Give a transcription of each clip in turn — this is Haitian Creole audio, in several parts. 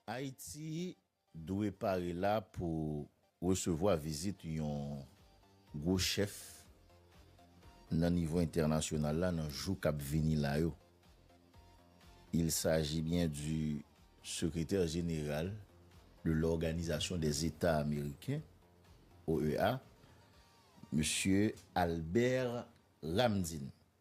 Ayiti dwe pare la pou resevwa vizit yon gwo chèf nan nivo entènasyonal la nan jou k ap vini la yo. Il s'agit bien du Secrétaire général de l'Organisation des États Américains, OEA, Mesye Albert Ramdin.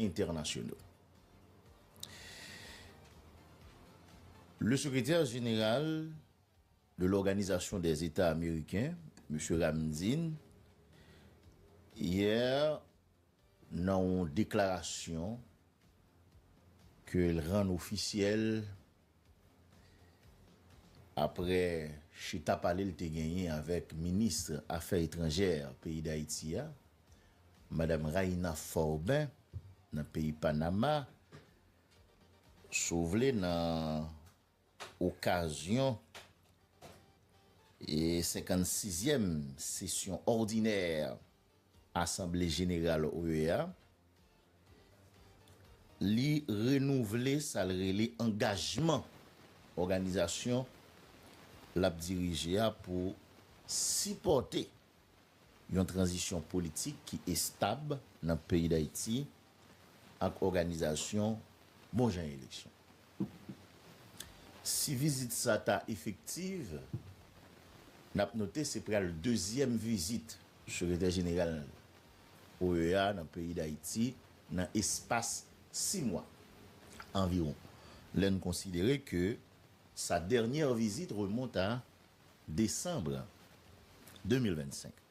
entènasyonal. Le sekretè jeneral de l'Organizasyon dè Zeta Ameriken, Msye Ramdin, yè nan yon deklarasyon ke l rann ofisyèl Aprè chita pale l te genyen avèk minis afè etranjè peyi Dayiti a, madam Raïna Forbin nan peyi Panama, si w vle nan okazyon 56 zyèm sesyon òdinè Asanble Jeneral OEA, li renouvle sa l rele angajman òganizasyon l ap dirije a pou sipòte yon tranzisyon politik ki estab nan peyi Dayiti, ak òganizasyon bon jan eleksyon. Si vizit sa ta efektiv, n ap note se pral dezyèm vizit Sekretè Jeneral OEA nan peyi Dayiti nan espas 6 mwa anviwon, lè n konsidere ke sa dènyè vizit remonte a desanm 2025.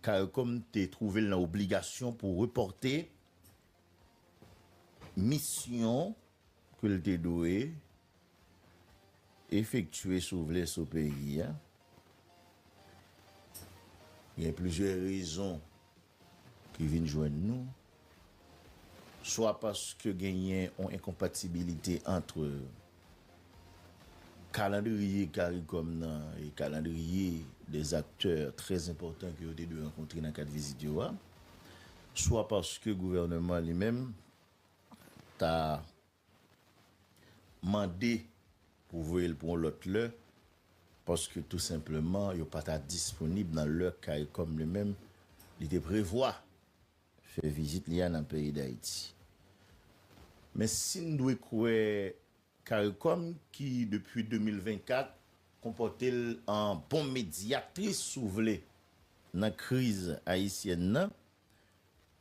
Caricom te twouve l nan obligasyon pou repòte misyon ke l te dwe efektye sou vle sou peyi a. Gen plizyè rezon ki vin jwenn nou, swa paske genyen yon enkonpatibilite antre kalandriye caricom nan e kalandriye 2 aktè trè enpòtan ke yo te dwe rankontre nan kad vizit yo a, swa paske gouvèneman li menm ta mande pou voye l pou yon lòt lè paske tou senpleman yo pa ta disponib nan lè caricom li menm li te prevwa fè vizit li a nan peyi Dayiti. Men si n dwe kwè caricom ki depi 2024 konpòte l an bon medyatris si w vle nan kriz ayisyèn nan,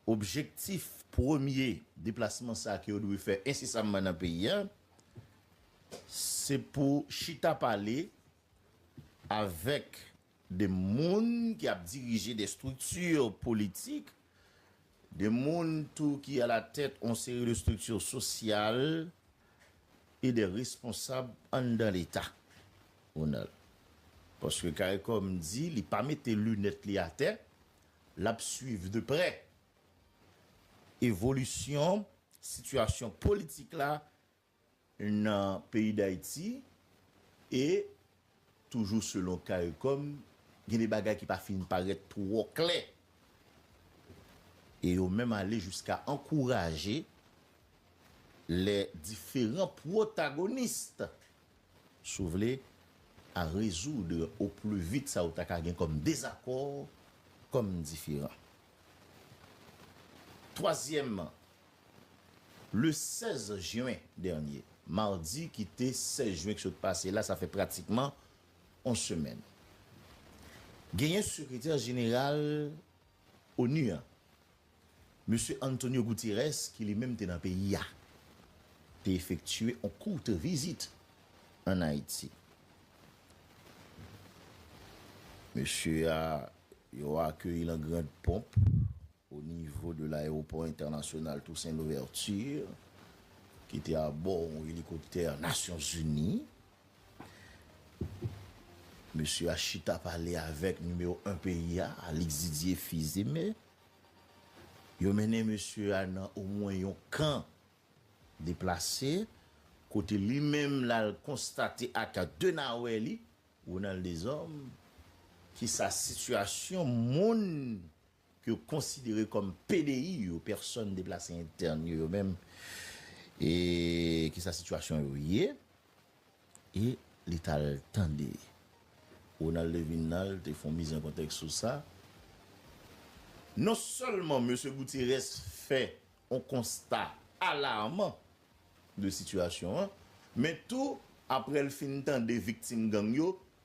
Objektif premye deplasman sa ke yo dwe fè ensesamman nan peyi a, se pou chita pale avèk de moun ki ap dirije de estrikti politik, de moun tou ki alatèt yon seri de estrikti sosyal e de responsab anndan leta, Ronald. Paske caricom di li pa mete linèt li atè, L ap swiv de prè evolisyon sitiyasyon politik la nan peyi Dayiti e toujou selon caricom gen de bagay ki pa fin parèt twò klè e yo menm ale jiska ankouraje lè diferan pwotagonis Si w vle, a rezoudre o pli vit sa ou ta ka gen kòm dezakò, kòm diferan. Twazyèmman, le 16 jen dènye, madi ki te 16 jen ki sot pase la, sa fè pratikman on semèn, genyen sekretè jeneral onu an, Mesye Antonio Gutiérrez ki li menm te nan peyi a, te efektye on courte visite an Ayiti. Mesye a, yo akeyi l an grand pomp o nivo de l'aéroport international Toussaint Louverture, ki te a bò on elikoptè Nasyon Zini. Mesye a chita pale avèk nimewo 1 peyi a, Alix Didier Fils-Aimé. Yo mennen mesye a nan omwen yon kan deplase, kote li menm l al konstate ak de nawè li, Ronald Deshommes, ki sa sitiyasyon moun ke yo konsidere kòm PDI yo, Pèsòn Deplase Entèn, yo menm, e ki sa sitiyasyon yo ye. E li t al tande. Ronald Levinal te fon miz an kontèks sou sa. Non sèlman Mesye Goutyerès fè on konsta alarman de sitiyasyon an, men tou aprè l fin tande viktim gang yo,